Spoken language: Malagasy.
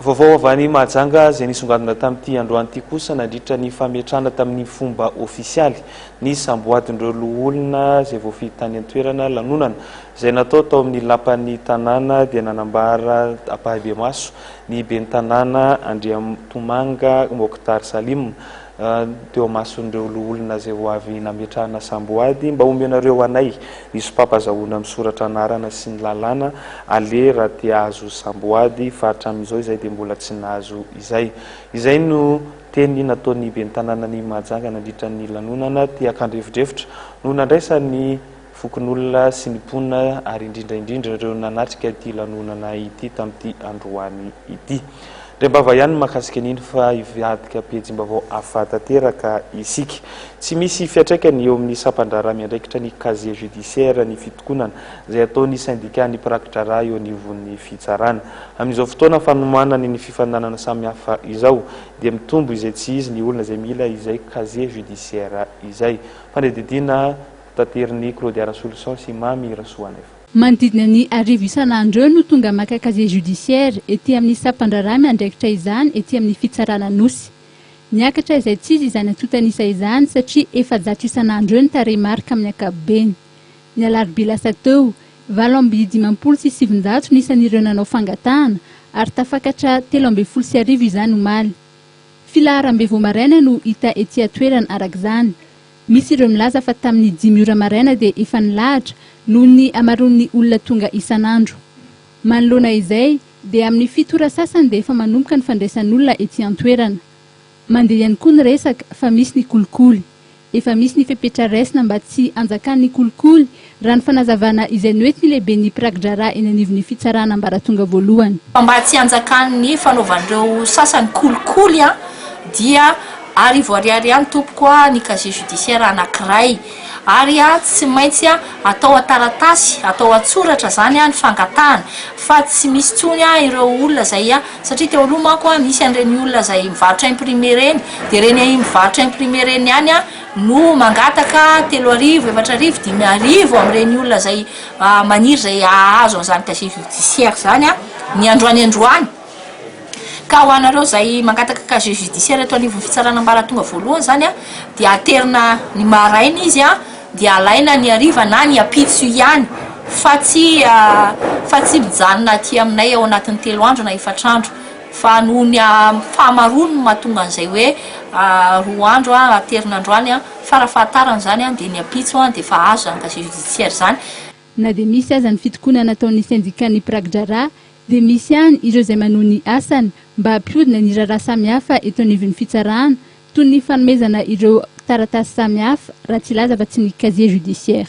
Vaovao avy any Mahajanga izay nisongadina tamin'ity androany ity kosa nandritra ny fametrahana tamin'ny fomba ofisialy ny samboadin'ireo loholona izay voafidy tany an-toerana. Lanonana izay natao tao amin'ny lapan'ny tanàna dia nanambara ampahibemaso ny ben'ny tanàna Andriantomanga Mokhtar Salim, teo amason'ireo loholona izay ho avy nametrahana samboady mba omenareo anay ny sopam-pazahoana misoratra anarana sy ny lalàna aleha raha te ahazo samboady fa hatramin'izao izahay dia mbola tsy nahazo izay. Izay no teny nataon'ny ben'ny tanànan'i Mahajanga nandritra ny lanonana, te hankandrefodrefotra no nandraisany fokonolona sy ny mponina ary indrindra indrindra ireo nanatrika ity lanonana ity tamin'ity androany ity. Rembava ihany ny mahakasika an'iny fa hivadika pejim-baovao hafa tanteraka isika. Tsy misy fiantraikany eo amin'ny sampan-draharaha miandraikitra ny casier judiciaire ny fitokonana izay ataon'ny syndicat-n'ny mpiraki-draharaha eo anivon'ny fitsarana. Amin'izao fotoana fanomanany ny fifaninanana samihafa izao dia mitombo izay tsy izy ny olona izay mila izay casier judiciaire izay. Fanadihadiana. Tadirin'i Claudia Rasoloson sy Mamy Rasoaneva. Manodidina ny arivo isan'andro eo no tonga maka casier judiciaire ety amin'ny sampan-draharaha miandraikitra izany ety amin'ny fitsarana Anosy. Niakatra izaitsizy izany antontan'isa izany satria efajato isan'andro eo ny tarehimarika amin'ny ankapobeny. Ny alarobia lasa teo, valo amby dimampolo sy sivinjato ny isan'ireo nanao fangatahana ary tafakatra telo ambin'ny folo sy arivo izany omaly. Filaharam-be vao maraina no hita ety an-toerana arak'izany. Misy ireo milaza fa tamin'ny dimy ora maraina dia efa nilahatra noho ny hamaroan'ny olona tonga isan'andro. Manoloana izay dia amin'ny fito ora sasany dia efa manomboka ny fandraisan'olona ety an-toerana. Mandeha ihany koa ny resaka fa misy ny kolikoly. Efa misy ny fepetra raisina mba tsy hanjakan'ny kolikoly raha ny fanazavana izay noentin'ny lehiben'ny mpiraki-draharaha eny anivon'ny fitsarana ambaratonga voalohany. Fa mba tsy hanjakan'ny fanaovan'ireo sasany kolikoly dia arivo ariary ihany tompoko ny casier judiciaire anankiray ary tsy maintsy atao an-taratasy, atao an-tsoratra izany ny fangatahana fa tsy misy intsony ireo olona izay satria teo aloha manko misy an'ireny olona izay mivarotra imprimer ireny dia ireny mivarotra imprimer ireny ihany no mangataka telo arivo, efatra arivo, dimy arivo amin'ireny olona izay maniry izay hahazo an'izany casier judiciaire izany ny androany androany. Ka ho anareo izay mangataka casier judiciaire eto anivon'ny fitsarana ambaratonga voalohany izany dia aterina ny maraina izy dia alaina ny hariva na ny ampitso ihany fa tsy fa tsy mijanona aty aminay ao anatin'ny telo andro na efatra andro. Fa noho ny fahamaroany no mahatonga an'izay hoe roa andro aterina androany, fa raha fahatarana izany dia ny ampitso dia efa azo izany casier judiciaire izany. Na dia misy aza ny fitokonana ataon'ny sendikàn'ny mpiraki-draharaha dia misy ihany ireo izay manohy ny asany mba hampihodina ny raharaha samihafa eto anivon'ny fitsarana toy ny fanomezana ireo taratasy samihafa raha tsy hilaza afa-tsy ny casier judiciaire.